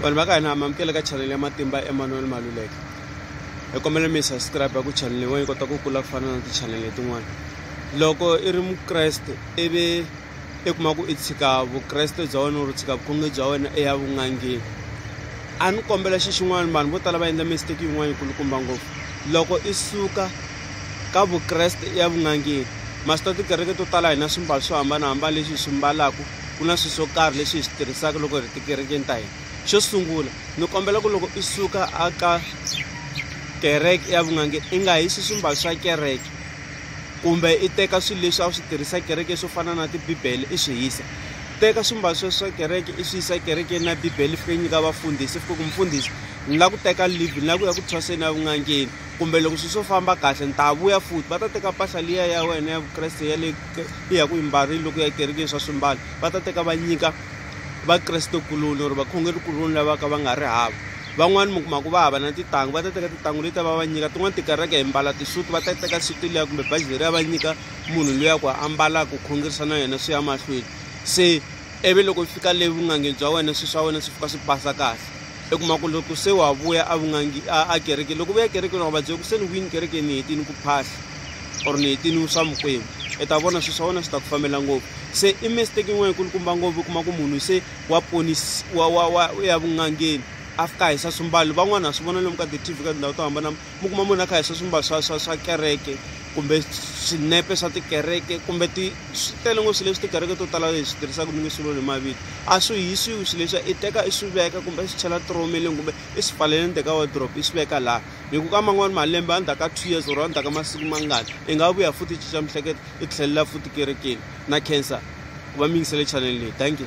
vanhu va ka hina mamukele ka chanele ya matimba emanuel maluleke hi kombela mi subscribe ya ku chanele yin'wana yi kota ku kula ku fana na tichanele letin'wana loko i ri mukreste ivi i kuma ku i tshika vukreste bya wena ri tshika vukhonge bya wena eya vun'angeni a ni kombela xi xin'wana vanhu vo tala va endla mistake yin'wana yikulukumba ngopfu loko i suka ka vukreste ya vun'angeni maswi ta tikereke to tala hina swimbalo swo hambanahambana leswi hi swi mbalaka ku na swilo swo karhi leswi hi swi tirhisaka loko hi ri tikerekeni ta hina xo sungula ni kombela ku loko i suka a ka kereke ya vun'ange i nga hisi swimbalo swa kereke kumbe i teka swilo leswi a wu swi tirhisa kereke swo fana na tibibele i swi hisa teka swimbalo swa swa kereke i swi yisa kerekeni na bibele fike nyika vafundhisi fike ku mfundhisi ni lava ku teka livi ni lava ku ya ku thwaseni ya vun'angeni kumbe loko swilo swo famba kahle ni ta vuya futhi va ta teka mpahla liya ya wena ya vukreste ya le ya ku yimbarile loko ya ekerekeni swa swimbalo va ta teka va nyika vakrestekuloni or vakhongerikuloni lava ka va nga ri hava van'wani mi kuma ku va hava na titangu va ta teka titangu leti va va nyika tin'wani tikereke hi mbala tisuti va ta teka suti liya kumbe baji leriya va nyika munhu luya ku ambalaka ku khongerisa na yena swi ya mahlweni se ivi loko u fika le vun'angeni bya wena swilo swa wena swi fika swi pasa kahle u kuma ku loko se wa vuya a vun'angi a kerekeni loko u vuya ekerekeni wa va byela ku se ni vuyini kerekeni ni hetini ku phahla or ni hetini swa mukwembu i ta vona swilo swa wena swi ta ku fambela ngopfu se i mistake yin'wana yikulukumba ngopfu u kuma ku munhu se wa ponisi wa wa wa ya vun'angeni a fika a hisa swimbalo van'wana ha swi vona lomu ka ti-tv ka tindhawu to hambana mi kuma munhu a kha hi swa swimbalo swa swa swa kereke kumbe swinepe swa tikereke kumbe ti swi tele ngopfu swilo leswi tikereke to tala hi swi tirhisaka ni nge swi voni hi mavito a swi hisiwi swilo leswi i teka i swi veka kumbe i swi chela tiromeleni kumbe i swi pfaleleni teka wardrop i swi veka laha hi ku ka man'wani malembe a ndzhaku ka two years or a ndzhaku ka masiku mangani i nga vuya futhi i cinca mihleketo i tlhelela futi kerekeni na cancer ku va mi yingisele chanel leyi thank you